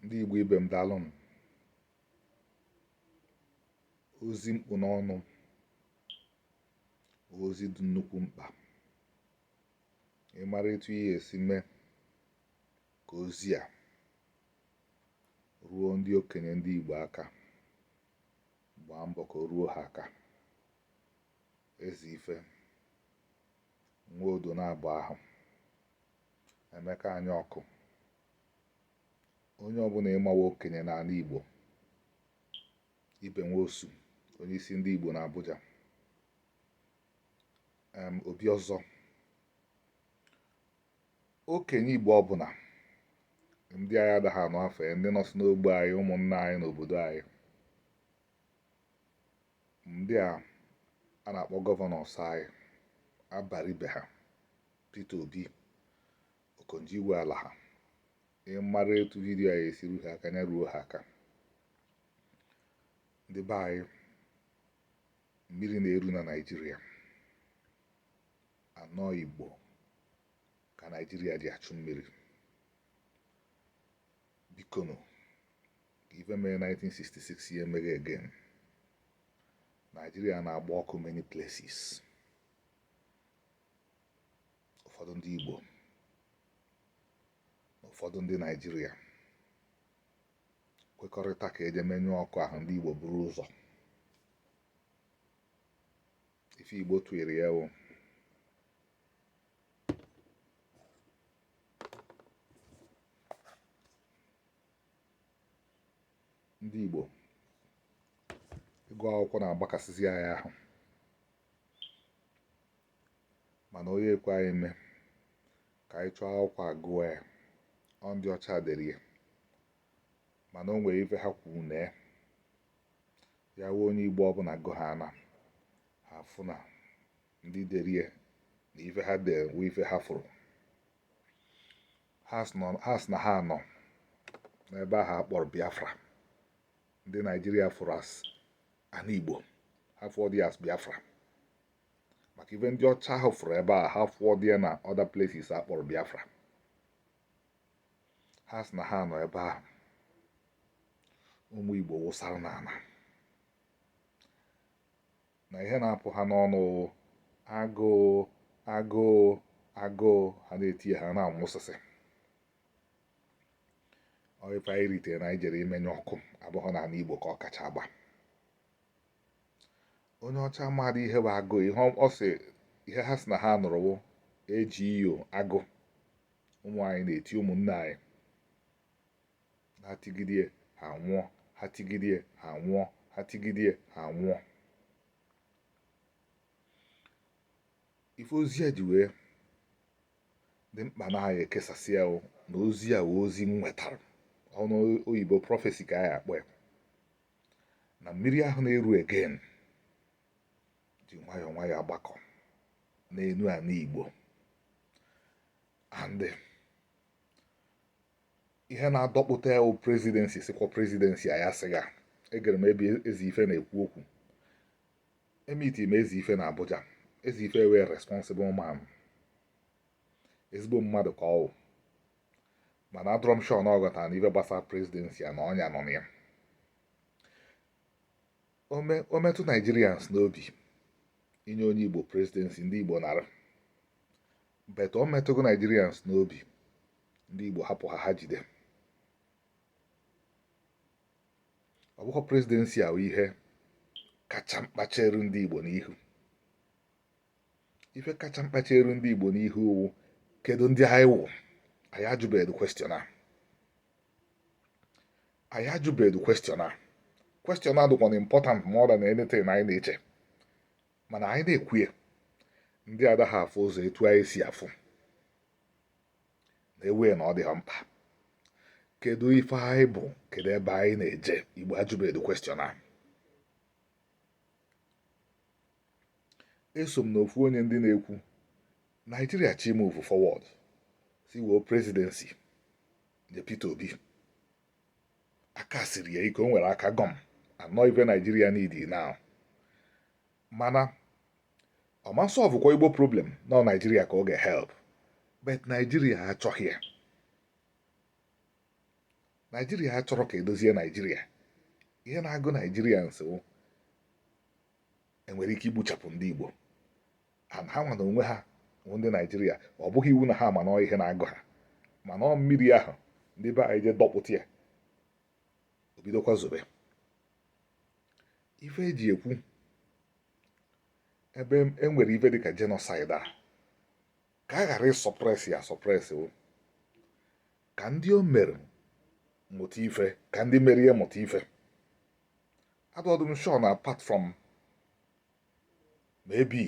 ndị Igbo ibe m daalụnụ ozi m kpụ n'ọnụ ozi dị nnukwu mkpa ị mara etu ihe esi mee ka ozi a ruo ndị okenye ndị Igbo aka gbaa mbọ ka o ruo ha aka Ezeife Nwodo na-agba ahụ Emeka Anyaọkụ onye ọbụna ị ma wụ okenye n'ana Igbo Ibe Nwosu onye isi ndị Igbo n'Abuja em Obiọzọ okenye Igbo ọbụna ndị anyị adaghị anụ afa ya ndị nọsị n'ogbe anyị ụmụnna anyị n'obodo anyị ndị a a na-akpọ gọvanọs anyị Abaribe ha Peter Obi Okonjo Iweala ha ị mara etu vidiyo a esi ruo ha aka ya ruo ha aka ndị be anyị mmiri na-eru na Naịjirịa na ọ Igbo ka Naịjirịa ji achụ mmiri bikonu ka ife mere 1966 ya emeghe again Naịjirịa na-agba ọkụ many places ụfọdụ ndị Igbo na ụfọdụ ndị Naịjirịa kwekọrịta ka e je menyụọ ọkụ ahụ ndị Igbo buru ụzọ ife Igbo tụnyere ya wụ ndị Igbo ịgụ akwụkwọ na-agbakasịzi anyị ahụ mana onye ekwe anyị eme ka anyị chọọ akwụkwọ a gụọ ya ọ ndị ọcha dere ya mana o nwere ife ha kwuru na ya wụ onye igbo ọbụna gụ ha na ha fụ na ndị dere ya na ife ha dere wụ ife ha fụrụ ha sị na ha nọ n'ebe ahụ a kpọrọ biafra ndị naijiria fụrụ as ana igbo ha fụọ dị as biafra maka ife ndị ọcha ahụ fụrụ ebe a ha fụọ dị ya na other places a kpọrọ biafra ha sị na ha nọ ebe ahụ ụmụ igbo wụsara n'ana na ihe na-apụ ha n'ọnụ wụ agụụ agụụ agụụ ha na-eti ya ha na-anwụsịsị ọ ife anyị ritere na anyị jere imenye ọkụ abụghị n'ani Igbo ka ọ kacha agba onye ọcha mmadụ ihe bụ agụ ihe ọ sị ihe ha si na ha nụrụwo eji iyo agụ ụmụ anyị na-eti ụmụnne anyị ha tigidie ha nwụọ ha tigidie ha nwụọ ha tigidie ha nwụọ ife ozi a ji wee dị mkpa na anyị ekesasị ya o na ozi a wụ ozi m nwetara ọnụ oyibo prophecy ka anyị akpọ ya na mmiri ahụ na-eru again ji nwayọọ nwayọọ agbakọ n'elu ala igbo and ihe na-adọkpụta ya presidency sikwa presidency a ya sịga egere m ebe Ezeife na-ekwu okwu emiti m Ezeife na Abuja Ezeife wụ responsible man ezigbo mmadụ ka ọ wụ mana adịrọ m sure na ọ ghọta na ife gbasara presidency a na ọnya nọ na ya o metụ Nigerians n'obi inye onye igbo presidency ndị igbo nara but o metụghọ Nigerians n'obi ndị igbo hapụ ha ha jide ọ bụghị presidency ahụ ihe kacha mkpa chere ndị Igbo n'ihu ife kacha mkpa chere ndị Igbo n'ihu wụ kedu ndị anyị wụ anyị ajụbeghị question a anyị ajụbeghị question a question a dụkwanụ important more than anything anyị na-eche mana anyị na-ekwu ya ndị adaghị afụ ụzọ etu anyị si afụ na-ewe na ọ dị ha mkpa kedu ife anyị bụ kedu ebe anyị na-eje igbo ajụbedu question a eso m n'ofu onye ndị na-ekwu naijiria chọọ i move forward sị were presidency nye Peter Obi aka siri ya ike o nwere aka gum and ọ ife naijiria need now mana ọ ma solve kwa igbo problem na ọ naijiria ka ọ ga-help but naijiria achọghị ya naijiria achọrọ ka edozie naijiria ihe na-agụ naijiria nsowo enwere ike igbuchapụ ndị igbo ha nwa na onwe ha wụ ndị naijiria ọ bụghị iwu na ha ma na ọ ihe na-agụ ha mana ọ mmiri ahụ ndị be anyị je dọkpụta ya o bidokwa zobe ife eji ekwu ebe e nwere ife dịka genocide a ka a ghara ịsuppress ya asuppress ka ndị o mere mụta ife ka ndị mere ya mụta ife adọdụ m sure na apart from maybe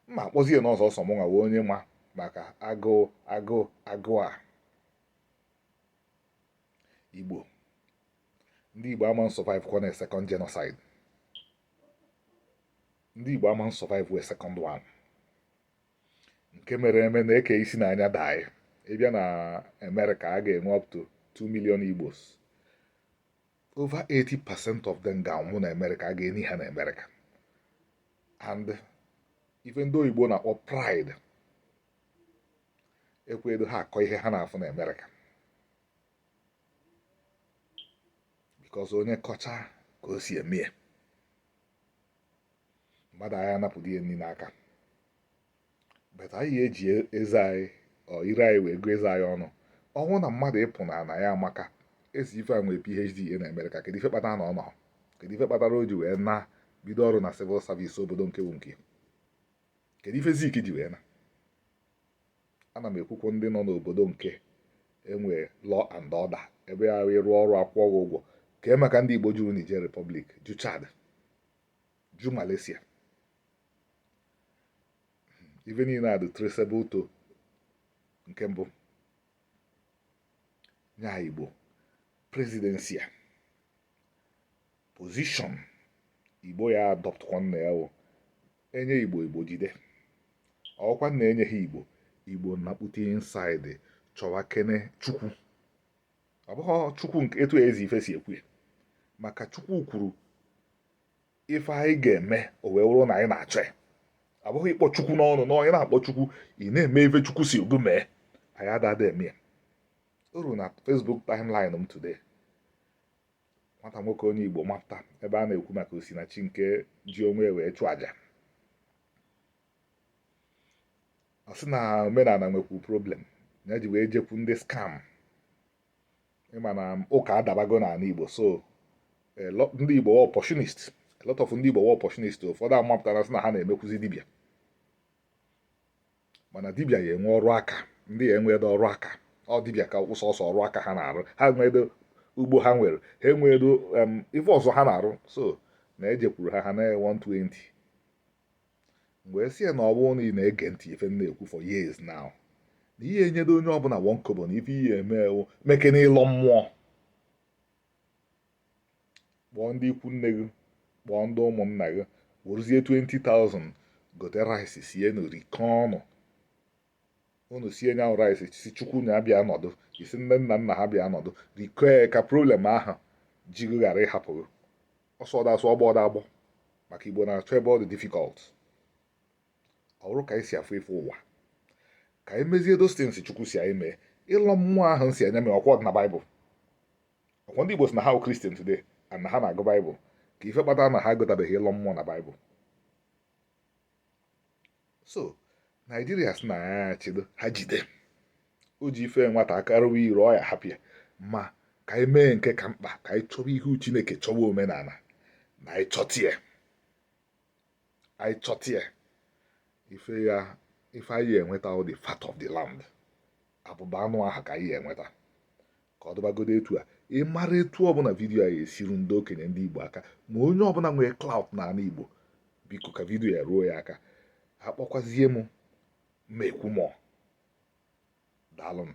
mma akpọzie n'ọzọ ọ sọ mụnwa wụ onye ma maka agụụ agụụ agụụ a igbo ndị Igbo ama survive kwa na second genocide ndị Igbo ama survive we second one nke mere eme na eke isi na anya daị ịbịa na Amerịka a ga-enwe up to 2 million Igbos over 80 percent of them ga-anwụ na Amerịka a ga-eni ha na Amerịka and ife ndị oyibo na-akpọ pride ekwedo ha akọ ihe ha na-afụ na Amerịka because onye kọcha ka o si eme ya mmadụ anyị anapụdị ya nri n'aka but anyị eji eze anyị ọ ire anyị wee gụọ eze anyị ọnụ ọ wụ na mmadụ ịpụ na ana ya amaka Ezeife a nwee phd e na amerịka kedu ife kpatara na ọ nọ kedu ife kpatara o ji wee naa bido ọrụ na civil service obodo nke bụ nke kedu ife zik ji wee na ana m ekwukwu ndị nọ n'obodo nke nwe law and order ebe ya wee rụọ ọrụ akwụọ gị ụgwọ kee maka ndị Igbo juru Niger Republic ju Chad ju Malaysia ife niile a dị traceable to nke mbụ nya Igbo presidency a position igbo ya adopt kwa nna ya wụ enye igbo igbo jide ọ wụkwa na enyeghị igbo igbo nakpute inside chọwakene chukwu ọ bụghị chukwu nke etu Ezeife si ekwu ya maka chukwu kwuru ife anyị ga-eme o wee wụrụ na anyị na-achọ ya ọ bụghị ịkpọ chukwu n'ọnụ na onye na-akpọ chukwu ị na-eme ife chukwu sị gị mee anyị adada eme ya o ruru na Facebook timeline m today nwata nwoke onye Igbo mapụta ebe a na-ekwu maka Osinachi nke ji onwe e wee chụọ aja ọ sị na omenala nwekwu problem ya ji wee jekwu ndị scam ịma na ụka adabago n'ala Igbo so ndị Igbo wụ opportunist a lot of ndị Igbo wụ opportunist ụfọdụ amapụtara sị na ha na-emekwuzi dibịa mana dibịa ya enwe ọrụ aka ndị a enwedo ọrụ aka ọ dibịa ka wụ sọsọ ọrụ aka ha na-arụ ha enwedo ugbo ha nwere ha enwedo ife ọzọ ha na-arụ so na ejekwuru ha ha ana 120 m gwa sị ya na ọ bụrụ na ị na-ege ntị ife m na-ekwu for years now na ị ya enyedo onye ọbụla one kobo na ife ị ya-eme wụ mekene ịlọ mmụọ kpọọ ndị ikwu nne gị kpọọ ndị ụmụnna gị werezie 20,000 gote rice sie na rikọọ ọnụ unu sie nya rice si chukwu nya bịa nọdụ isi nne nna nna ha bịa nọdụ rikọọ ya ka problem ahụ ji gị ghara ịhapụ gị ọsọ ọda asụ ọgbọ ọda agbọ maka igbo na-achọ ebe ọ dị difficult ọ bụrụ ka anyị si afụ ife ụwa ka anyị mezie those things chukwu si anyị mee ịlọ mmụọ ahụ si anyị mee ọkwa ọ dị na baịbụl ọkwa ndị Igbo si na ha Christian today and na ha na-agụ Bible ka ife kpatara na ha agụtabeghị ịlọ mmụọ na Bible so Naijiria si na ya achịdo ha jide o ji ife nwata aka rụwa ire ọ ya hapụ ya ma ka anyị mee nke ka mkpa ka anyị chọwa ihu Chineke chọwa omenala na anyị chọtie anyị chọtie ife ya ife anyị enweta the fat of the land abụba anụ ahụ ka anyị enweta ka ọ dụbagodo etu a ị mara etu ọbụla vidiyo a ga-esi ruo ndị okenye ndị Igbo aka ma onye ọbụla nwere clout n'ala Igbo biko ka vidiyo ya ruo ya aka akpọkwazie m ma ekwu mọ daalụ nụ